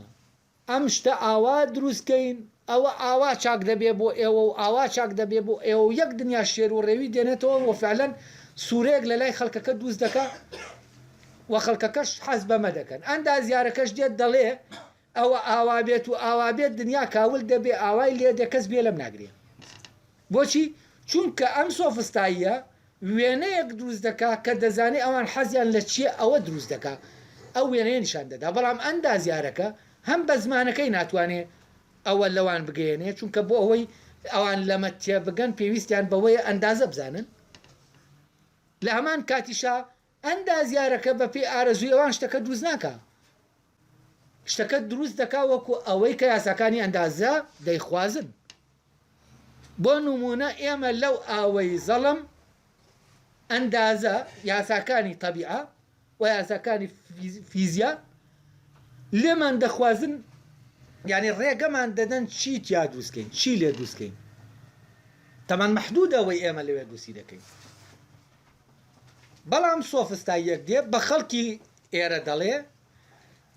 ئەم شتە ئاوا دروست کەین ئەوە ئاوا چاک دەبێ بۆ ئێوە و ئاوا چاک دەبێ بۆ ئێوە و یەک دنیا شێر و ڕێوی دێنێتەوە و فعلەن سوورەیەک لە لای خەڵکەکە دووس دەکا و خەڵکەکەش حەز بەمە دەکەن. ئەندازیارەکەش دێت دەڵێ، ئەوە ئاوا بێت و ئاوا بێت دنیا کاول دەبێ، ئاوای لێ دێ کەس گوێ لەم ناگرێ. بۆچی؟ چونکە ئەم سۆفستاییە وێنەیەک دروست دەکا کە دەزانێ ئەوان حەزیان لە چییە ئەوە دروست دەکا ئەو وێنەیە نیشان دەدا بەڵام ئەندازیارەکە هەم بە زمانەکەی ناتوانێ ئەوە لەوان بگەیەنێ چونکە بۆ ئەوەی ئەوان لەمە تێبگەن پێویستیان بەوەیە ئەندازە بزانن لە هەمان کاتیشا ئەندازیارەکە بەپێی ئارەزووی ئەوان شتەکە دروست ناکا، شتەکە دروست دەکا وەکو ئەوەی کە یاساکانی ئەندازە دەیخوازن. بۆ نموونە ئێمە لەو ئاوەی زەڵم ئەندازە یاساکانی تەبیعە و یاساکانی فیزیا لێمان دەخوازن، یانی ڕێگەمان دەدەن چی تیا دروست کەین، چی لێ دروست کەین. تەمان مەحدوودە ئەوەی ئێمە لەوێ دروستی دەکەین. بەڵام سۆفستا یەک دێ بە خەڵکی ئێرە دەڵێ،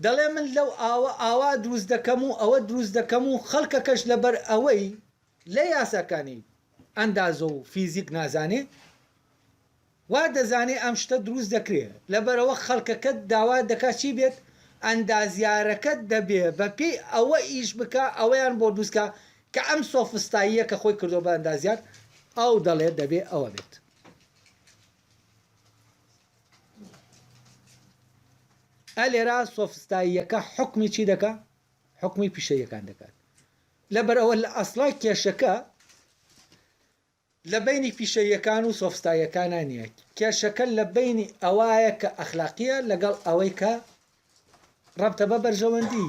دەڵێ من لەو ئاوە ئاوا دروست دەکەم و ئەوە دروست دەکەم و خەڵکەکەش لەبەر ئەوەی لە یاساکانی ئەندازە و فیزیک نازانێ وا دەزانێ ئەم شتە دروست دەکرێ لەبەرەوە خەڵکەکەت داوا دەکا چی بێت ئەندازیارەکەت دەبێ بە پێی ئەوە ئیش بکا ئەوەیان بۆ دروستکا کە ئەم سۆفستاییە کە خۆی کردوە بە ئەندازیار ئەو دەڵێ دەبێ ئەوە بێت. ئە لێرا سۆفستاییەکە حکمی چی دەکا حکمی پیشەیەکان دەکات لەبەر ئەوە لە ئەسڵا کێشەکە لە بینی پیشەیەکان و سۆفستایەکانە نییە کێشەکە لە بینی ئەوایە کە ئەخلاقیە لەگەڵ ئەوەی کە ڕەبتە بە بەرژەوەندی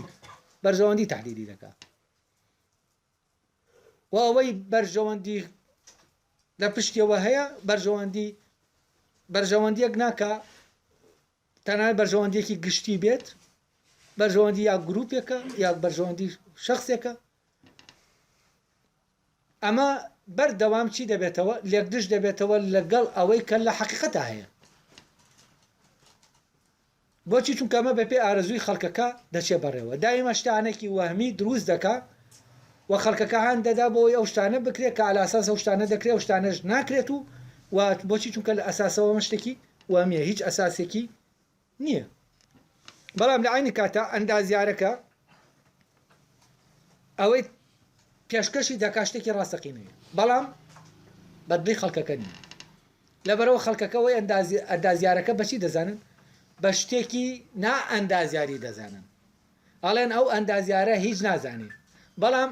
بەرژەوەندی تحلیلی دەکات و ئەوەی بەرژەوەندی لە پشتیەوە هەیە بەرژەوەندی بەرژەوەندیەک ناکا تەنانەت بەرژەوەندیەکی گشتی بێت بەرژەوەندی یا گروپێکە یا بەرژەوەندی شخصێکە ئەمە بەردەوام چی دەبێتەوە لێکدش دەبێتەوە لەگەڵ ئەوەی کە لە حقیقەتە هەیە بۆچی چونکە ئەمە بە پێی ئارەزووی خەڵکەکە دەچێ بەڕێوە دایمە شتانەکی وەهمی دروست دەکا و خەڵکەکە هان دەدا بۆ ئەوەی ئەو شتانە بکرێ کە ئالاساس ئەو شتانە دەکرێ ئەو شتانەش ناکرێت و و بۆچی چونکە لە ئەساسەوە ئەمە شتێکی وەهمیە هیچ ئەساسێکی نیە بەڵام لە عەینی کاتا ئەندازیارەکە ئەوەی پێشکەشی دەکات شتێکی ڕاستەقینەیە بەڵام بەدڵی خەڵکەکە نیە لەبەرەوە خەڵکەکەەوەی ئەندازیارەکە بەچی دەزانن بە شتێکی نا ئەندازیاری دەزانن ئەڵێن ئەو ئەندازیارە هیچ نازانێت بەڵام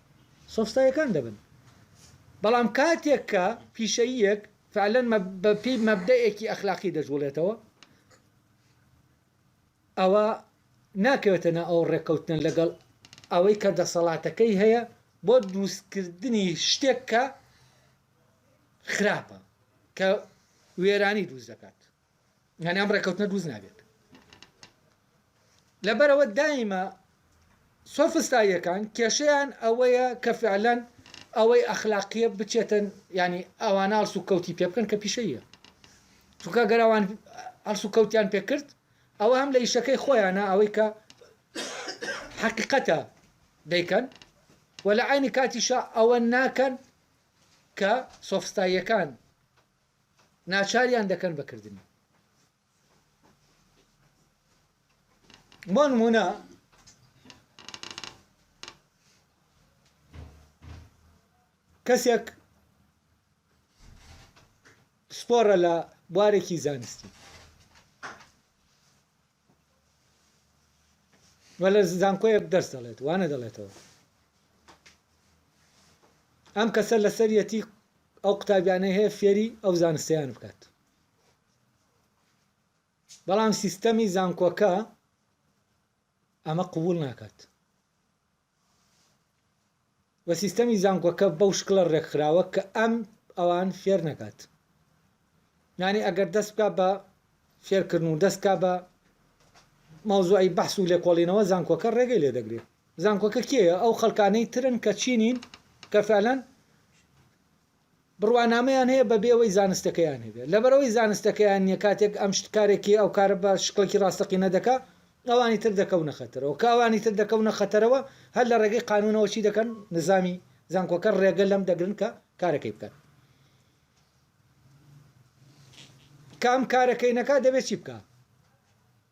سۆستایەکان دەبن بەڵام کاتێک کە پیشەییەک فعلەن بە پێی مەبدەئێکی ئەخلاقی دەجوڵێتەوە ئەوە ناکەوێتە ناو ئەو ڕێکەوتنە لەگەڵ ئەوەی کە دەسەڵاتەکەی هەیە بۆ دروستکردنی شتێک کە خراپە کە وێرانی دروست دەکات یانی ئەم ڕێکەوتنە دروست نابێت لەبەرەوە دایمە سۆفستاییەکان کێشیان ئەوەیە کە فعلەن ئەوەی ئەخلاقیە بچێتن ینی ئەوان ئاڵس و کەوتی پێ بکەن کە پیشەیە چونکە گەرەوان ئەڵس و کەوتیان پێکرد ئەوە هەم لە ئیشەکەی خۆیانە ئەوەی کە حقیقەتە دەیکەن و لە عینی کاتیشە ئەوە ناکەن کە سۆفستاییەکان ناچاریان دەکەن بە کردنی. بۆ نمونە کەسێک پسپۆڕە لە بوارێکی زانستی و لە زانکۆیەک دەرس دەڵێت وا نەدەڵێتەوە ئەم کەسە لەسەریەتی ئەو قوتابیانەی هەیە فێری ئەو زانستیان بکات بەڵام سیستەمی زانکۆکە ئەمە قوبول ناکات و سیستەمی زانکۆکە بەو شکڵە ڕێکخراوە کە ئەم ئەوان فێر نەکات یانی ئەگەر دەست بکە بە فێرکردن و دەستکە بە مەوزوعی بەحس و لێکۆڵینەوە زانکۆکە ڕێگەی لێ دەگرێت زانکۆکە کێە ئەو خەڵکانەی ترن کە چینین کە فعلەن بڕوانامەیان هەیە بەبێ ئەوەی زانستەکەیان هەبێت لەبەرئەوەی زانستەکەیان نیە کاتێک ئەم شت کارێکی ئەو کارە بە شکڵێکی ڕاستەقینە دەکا ئەوانی تر دەکەونە خەتەرەوە کە ئەوانی تر دەکەونە خەتەرەوە هەر لە ڕێگەی قانونەوە چی دەکەن نزامی زانکۆکە ڕێگە لەم دەگرن کە کارەکەی بکات کە ئەم کارەکەی نەکا دەبێت چی بکا؟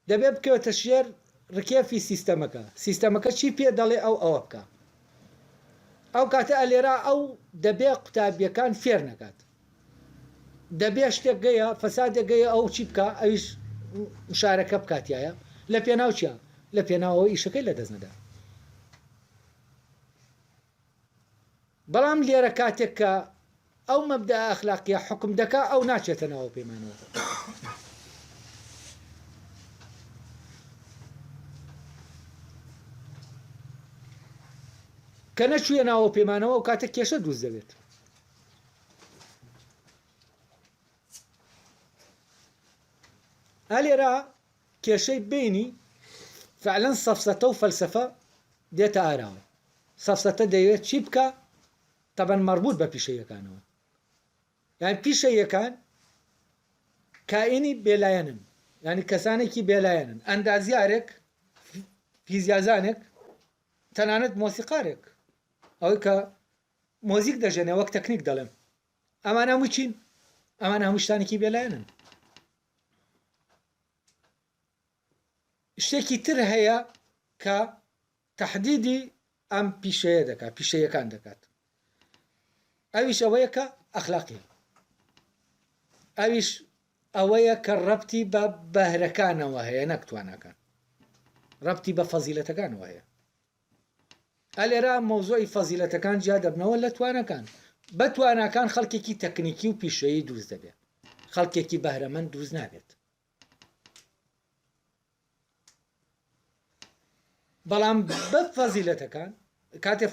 دەبێت بکەوێتە ژێر ڕکێفی سیستەمەکە سیستەمەکە چی پێ دەڵێ ئەو ئەوە بکا ئەو کاتە ئەلێرا ئەو دەبێ قوتابیەکان فێر نەکات دەبێ شتێک گەیە فەسادێک گەیە ئەو چی بکە ئەویش مشارەکە بکاتایە لە پێناوچە لە پێناوەوە ئیشەکەی لە دەست نەدا بەڵام لێرە کاتێک کە ئەو مەبدە ئەخلاقیە حکم دەکا ئەو ناچێتە ناوە پەیمانەوە کە نەچوویە ناوە پەیمانەوە و کاتە کێشە دروست دەبێت ئەلێرا کێشەی بینی فعلەن سەفسەتە و فەلسفە دێتە ئاراوە سەفسەتە دەیەوێت چی بکا تەبەن مەڕبووت بە پیشەییەکانەوە یان پیشەییەکان کائینی بێلایەنن یانی کەسانێکی بێلایەنن ئەندازیارێک فیزیازانێک تەنانەت مۆسیقارێک ئەوەی کە مۆزیک دەژێنێ وەک تەکنیک دەڵێن ئەمان هەموو چین ئەمان هەموو شتانێکی بێلایەنن شتێکی تر هەیە کە تەحدیدی ئەم پیشەیە دەکات پیشەیەکان دەکات ئەویش ئەوەیە کە ئەخلاقی ئەویش ئەوەیە کە ڕەتی بە بەهرەکانەوە هەیە نەکتوانەکان ڕەتی بە فەزیلەتەکانەوە هەیە ئەلێرا مۆزۆی فەزیلەتەکان جیا دەبنەوە لە توانەکان بە توانەکان خەڵکێکی تەکنیکی و پیشەیی دروست دەبێت خەڵکێکی بەهرەمەند دروست نابێت بەڵام بەب فەزیلەتەکان کاتێ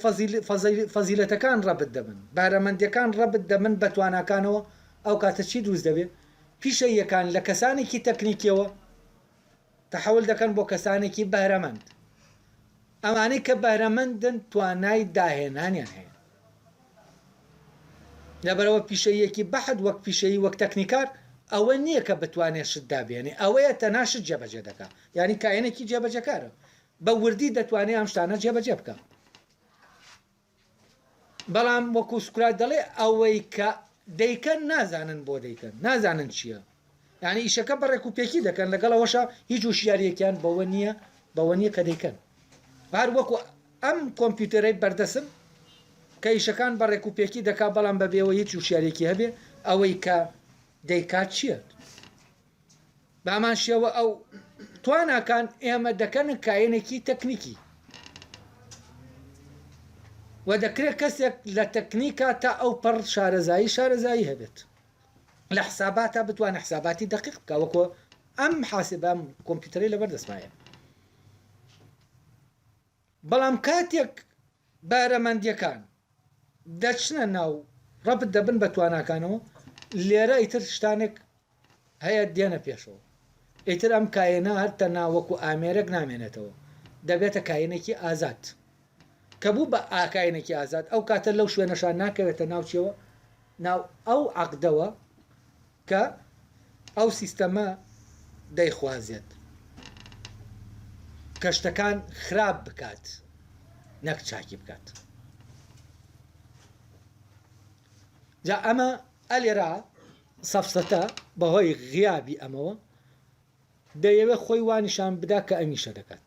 فەزیلەتەکان ڕەبت دەبن بەهرەمەندیەکان ڕەبت دەبن بە تواناکانەوە ئەو کاتە چی دروست دەبێ پیشەییەکان لە کەسانێکی تەکنیکیەوە تەحول دەکەن بۆ کەسانێکی بەهرەمەند. ئەوانەی کە بەهرەمەندن توانای داهێنانیان هەیە لە بەرەوە پیشەییەکی بەحت وەک پیشەیی وەک تەکنیکار ئەوە نیە کە بتوانێ شت دابێنێ ئەوەیە تەنها شت جێبەجێ دەکا یانی کایەنێکی جێبەجێکارە بە وردی دەتوانێ ئەم شتانە جێبەجێ بکا. بەڵام وەکو سوکرات دەڵێ ئەوەی کە دەیکەن نازانن بۆ دەیکەن نازانن چییە یعنی ئیشەکە بەڕێک و پێکی دەکەن لەگەڵ ئەوەشە هیچ وشیاریەکیان بەوە نییە بەوە نییە کە دەیکەن هەر وەکو ئەم کۆمپیوتەرەی بەردەسم کە ئیشەکان بەڕێک و پێکی دەکا بەڵام بەبێەوە هیچ وشیارێکی هەبێ ئەوەی کە دەیکات چییە بەهەمان شێوە ئەو تواناکان ئێمە دەکەنە کایەنێکی تەکنیکی و دەکرێت کەسێک لە تەکنیکا تا ئەو پەڕ شارەزایی شارەزایی هەبێت لە حساباتە بتوانە حساباتی دقیق بکە وەکۆ ئەم حاسبە کۆمپیوتەری لەبەر دەستمایە بەڵام کاتێک بەهرەمەندیەکان دەچنە ناو ڕەبت دەبن بە تواناکانەوە لێرە ئیتر شتانێک هەیە دێنە پێشەوە ئیتر ئەم کاینە هەر تەنها وەکو ئامێرێک نامێنێتەوە دەبێتە کاینێکی ئازاد کە بوو بە ئاکاینێکی ئازاد ئەو کاتە لەو شوێنەشان ناکەوێتە ناوچیەوە ناو ئەو عقدەوە کە ئەو سیستەمە دەیخوازێت کە شتەکان خراپ بکات نەک چاکی بکات جا ئەمە ئەلێرا سەفسەتە بەهۆی غیابی ئەمەوە دەیەوێت خۆی وانیشان بدا کە ئەمیشە دەکات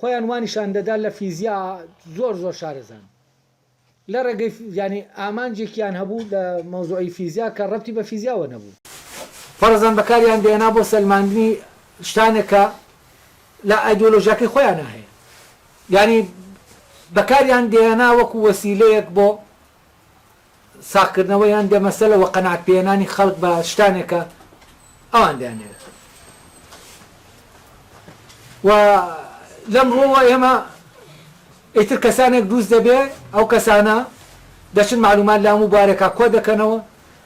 خۆیان وانیشان دەدا لە فیزیا زۆر زۆر شارەزان لە ڕێگەی یانی ئامانجێکیان هەبوو لە مەوزوعی فیزیا کە ڕەبتی بە فیزیاوە نەبوو. فەرەزان بەکاریان دەهێنا بۆ سەلماندنی شتانێک کە لە ئایدۆلۆژیاکەی خۆیانا هەیە یانی بەکاریان دەهێنا وەکو وەسیلەیەک بۆ ساغکردنەوە یان دەمەسەلە وە قەناعەت پێهێنانی خەڵک بە شتانێکە ئەوان دەیانەوێت وە لەم ڕوەوە ئێمە ئیتر کەسانێک دووست دەبێ ئەو کەسانە دەچن معلومات لە هەموو بوارێکا کۆ دەکەنەوە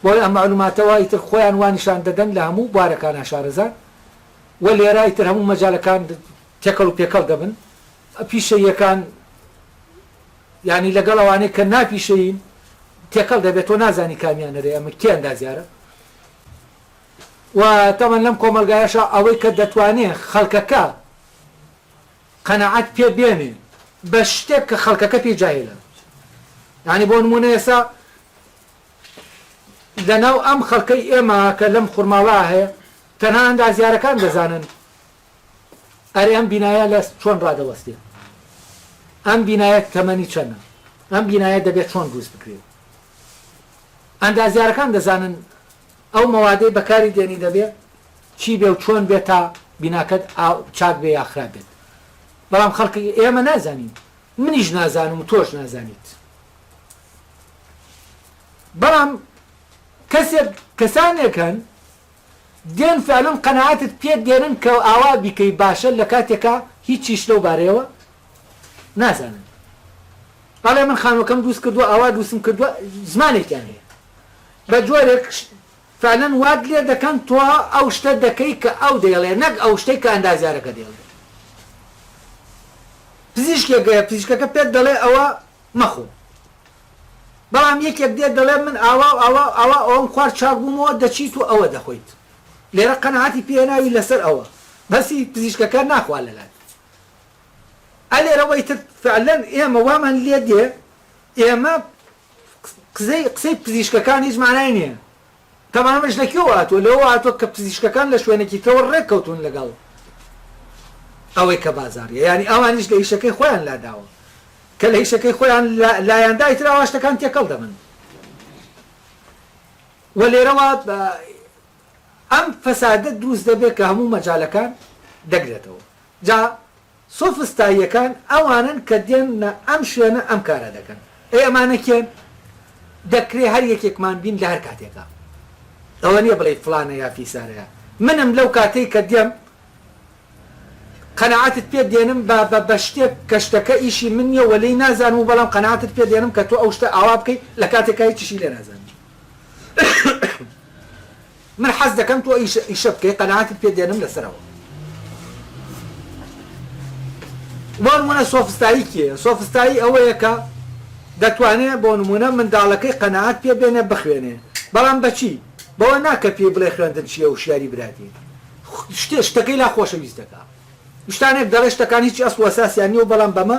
بۆی ئەم معلوماتەوە ئیتر خۆیان وانیشان دەدەن لە هەموو بوارەکان ناشارەزان وە لێرە ئیتر هەموو مەجالەکان تێکەڵ و پێکەڵ دەبن پیشەیەکان یانی لەگەڵ ئەوانەی کە نا پیشەیین تێکەڵ دەبێت تۆ نازانی کامیان هەرێ ئەمن کێن دازیارە و تاوان لەم کۆمەلگایشە ئەوەی کە دەتوانێ خەلکەکە قەنەعەت پێ بێنێ بە شتێک کە خەلکەکە پێی جاهێلە یانی بۆ نمونە ئێسا لەناو ئەم خەلکەی ئێمە کە لەم خورماڵا هەیە تەنها ئەندازیارەکان دەزانن ئەرێ ئەم بینایە لە چۆن ڕادەوەستێ؟ ئەم بینایە تەمەنی چەنە؟ ئەم بینایە دەبێ چۆن دروست بکرێ؟ ئەندازیارەکان دەزانن ئەو مەوادەی بەکاری دێنی دەبێ چی بێ و چۆن بێ تا بیناکەت چاک بێ یا خراپ بێت بەڵام خەڵکی ئێمە نازانین منیش نازانم و تۆش نازانیت بەڵام کەسێک کەسانێکن دێن فعلن قەناعەتت پێ دێنن کە ئاوا بیکەی باشە لە کاتێکا هیچیش لەو بارەیەوە نازانن بەڵێ من خانوەکەم دووست کردووە ئاوا دووستم کردووە زمانێکیان هەیە بە جۆرێک فعلن وات لێ دەکەن تۆ ئەو شتە دەکەی کە ئەو دەیڵێ نەک ئەو شتەی کە ئەندازیارەکە دەیڵێ پزیشکێک گەیە پزیشکەکە پێت دەڵێ ئەوە مەخۆ بەڵام یەکێک دێت دەڵێت من ئاوا و ئاوا و ئاوا ئەوەم خوارد چاک بوومەوە دەچیت و ئەوە دەخۆیت لێرە قەناعەتی پێ هێناوی لەسەر ئەوە بەسی پزیشکەکە ناخوا لەلات ئە لێرە وەی تر فعلەن ئێمە وامان لێ دێ ئێمە قسەی قسەی پزیشکەکان هیچ مانای نیە تەبعەن ئەمەش لە کوێوە هاتووە؟ لەوەوە هاتووە کە پزیشکەکان لە شوێنێکی ترەوە ڕێک کەوتوون لەگەڵ ئەوەی کە بازاڕییە، یانی ئەوانیش لە ئیشەکەی خۆیان لاداوە، کە لە ئیشەکەی خۆیان لایاندا ئیتر ئەوا شتەکان تێکەڵ دەبن و لێرەوە ئەم فەسادە دروست دەبێت کە هەموو مەجالەکان دەگرێتەوە. جا سۆفستاییەکان ئەوانەن کە دێنە ئەم شوێنە ئەم کارە دەکەن. ئەی ئەمانە کێن؟ دەکرێ هەر یەکێکمان بین لە هەر کاتێکا. ئەوە نییە بڵێی فڵانە یا فیسارەیە. منم لەو کاتەی کە دێم قەناعەتت پێ دێنم بە بە بە شتێک کە شتەکە ئیشی من نییە و لێی نازانم و بەڵام قەناعەتت پێ دێنم کە تۆ ئەو شتە ئاوا بکەی لە کاتێکا هیچیشی لێ نازانی. من حەز دەکەم تۆ ئیشە ئیشە بکەی قەناعەتت پێ دێنم لەسەرەوە بۆ نموونە سۆفستایی کێیە سۆفستایی ئەوەیە کە دەتوانێ بۆ نموونە منداڵەکەی قەناعەت پێ بێنێ بخوێنێ بەڵام بە چی بەوە نا کە پێی بڵێ خوێندن چییە وشیاری براتی شتێ شتەکەی لا خۆشەویست دەکا شتانێک دەڵێ شتەکان هیچی ئەسڵ و ئەساسیان نییە و بەڵام بەمە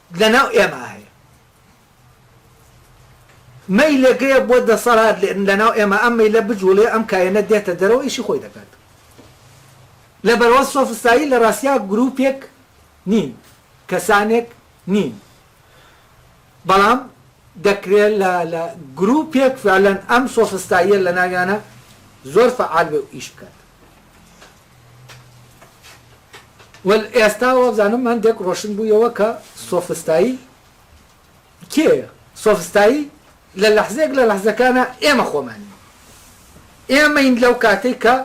لەناو ئێمە هەیە مەیلێکەیە بۆ دەسەڵات لەناو ئێمە ئەم مەیلە بجوڵێ ئەم کایەنە دێتە دەرەوە ئیشی خۆی دەکات لەبەروا سۆفستایی لە ڕاستیا گروپێک نین کەسانێک نین بەڵام دەکرێت لە لە گروپێک فعلەن ئەم سۆفستاییە لە ناویانە زۆر فعال بێ و ئیش بکات وەل ئێستا وابزانم هەندێک ڕۆشن بوویەوە کە سۆفستایی کێیە سۆفستایی لە لەحزێک لە لەحزەکانە ئێمە خۆمانین ئێمەین لەو کاتێک کە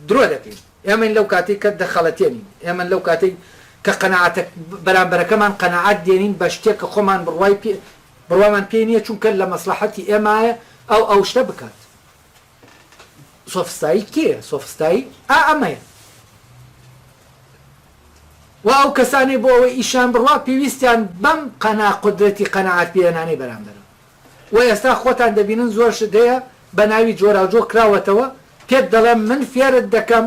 درۆ دەکەین ئێمەین لەو کاتێک کە دەخەڵەتێنین ئێمە لەو کاتێک کە قەنەعاتە بەرامبەرەکەمان قەنەعات دێنین بە شتێک کە خۆمان بڕوای پێ بڕوامان پێ نییە چونکە لە مەسلحەتی ئێمایە ئەو ئەو شتە بکات سۆفستایی کێیە سۆفستایی ئا ئەمەیە وا ئەو کەسانەی بۆ ئەوەی ئیشان بڕوا پێویستیان بەم قەنا قودرەتی قەناعەت پێهێنانەی بەرامبەرە و ئێستا خۆتان دەبینن زۆر شت هەیە بە ناوی جۆراوجۆ کراوەتەوە پێت دەڵێم من فێرت دەکەم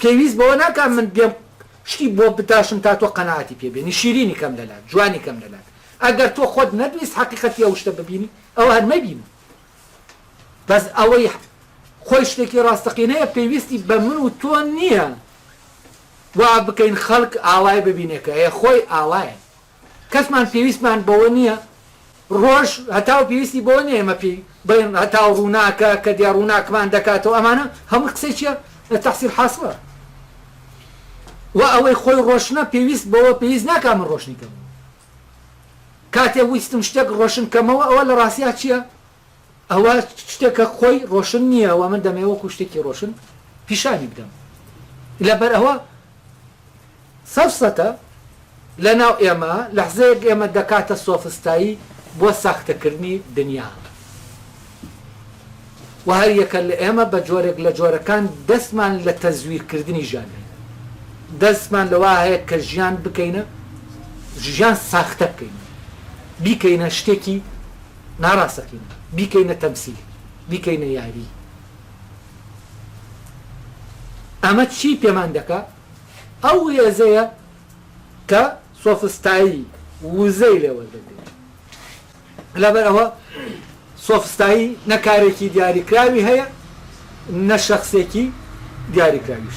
پێویست بەوە ناکات من بێم شتی بۆ بتاشم تا تۆ قەناعەتی پێ بێنی، شیرینی کەم لە لات، جوانی کەم لە لات. ئەگەر تۆ خۆت نەتویست حەقیقەتی ئەو شتە ببینی، ئەوا هەر مەیبینە. بەس ئەوەی خۆی شتێکی ڕاستەقینەیە پێویستی بە من و تۆ نییە وا بکەین خەڵک ئاوای ببینێ کە هەیە، خۆی ئاوایە. کەسمان پێویستمان بەوە نییە ڕۆژ هەتاو پێویستی بەوە نییە ئێمە پێی بڵێن هەتاو ڕووناکە کە دێ ڕووناکمان دەکاتەوە ئەمانە هەمووی قسەی چییە تەحسیل حاسڵە وە ئەوەی خۆی ڕۆشنە پێویست بەوە پێویست ناکا من ڕۆشنی کەمەوە کاتێ ویستم شتێک ڕۆشن کەمەوە ئەوە لە ڕاستیا چییە ئەوە شتێکە خۆی ڕۆشن نییە و من دەمەوێت وەکو شتێکی ڕۆشن پیشانی بدەم. لەبەر ئەوە سەفسەتە لەناو ئێمە، لەحزەیەک ئێمە دەکاتە سۆفستایی بۆ ساختەکردنی دنیا و هەریەکە لە ئێمە بە جۆرێک لە جۆرەکان دەستمان لە تەزویرکردنی ژیان هەیە. دەستمان لەوە هەیە کە ژیان بکەینە، ژیان ساختە بکەینەوە، بیکەینە شتێکی. ناڕاستەقینە بیکەینە تەمسیل بیکەینە یاری ئەمە چی پێمان دەکا ئەو هێزەیە کە سۆفستایی وزەی لێ وەردەگرێت لەبەر ئەوە سۆفستایی نە کارێکی دیاریکراوی هەیە نە شەخسێکی دیاریکراویش